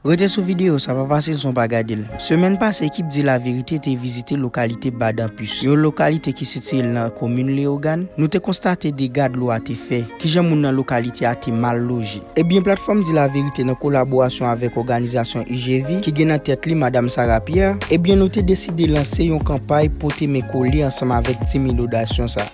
Rete sou videyo sa, pa pase son pa gade l. Semèn pase ekip Di Laverite te vizite lokalite Badanpis, yon lokalite ki sitiye nan komin Leyogàn. Nou te konstate dega dlo a te fè, kijan moun nan lokalite a te mal loje. Ebyen Platfòm Di Laverite nan kolaborasyon avèk òganizasyon UGV ki gen nan tèt li Madam Sarah Pierre, ebyen nou te deside lanse yon kanpay pote men kole ansanm avèk ti minodasyon sa.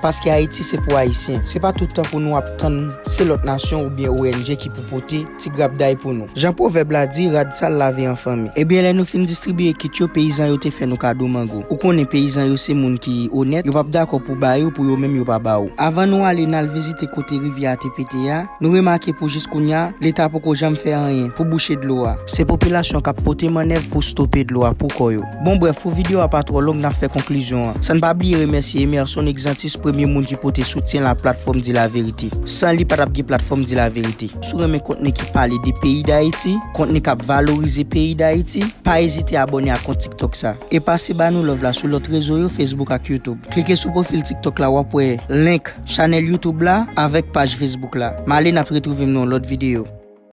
Paske Ayiti se pou Ayisyen. Se pa toutan pou nou ap tann se lòt nasyon oubyen ong ki pou pote ti grapday pou nou. Jan pwovèb la di, rad sal lave an fanmi. Ebyen lè nou fin distribiye kit yo, peyizan yo te fè nou kado mango. Ou konnen peyizan yo se moun ki onèt, yo pap dakò pou ba yo pou yo menm yo pa ba ou. Avan nou ale n al vizite kote rivyè a te pete a, nou remake pou jis kounya, leta poko janm fè anyen pou bouche dlo a. Se popilasyon k ap pote mannèv pou stope dlo a pou kò yo. Bon brèf, pou video a pa twò long nap fè konklizyon an. San n pa bliye remèsye Emerson Exantus premye moun ki pote soutyen l a platfòm Di La Vérité. San li pa tap gen platfòm Di La Vérité. Si w renmen kontni ki pale de peyi Dayiti, kontni kap valorize peyi Dayiti, pa ezite abòne ak kont tiktok sa. E pase ba nou love la sou lòt rezo yo Facebook ak YouTube. Klike sou pwofil tiktok la wap wè link chanèl YouTube la avèk paj Facebook la. M ale nap retrouve m nan yon lòt video.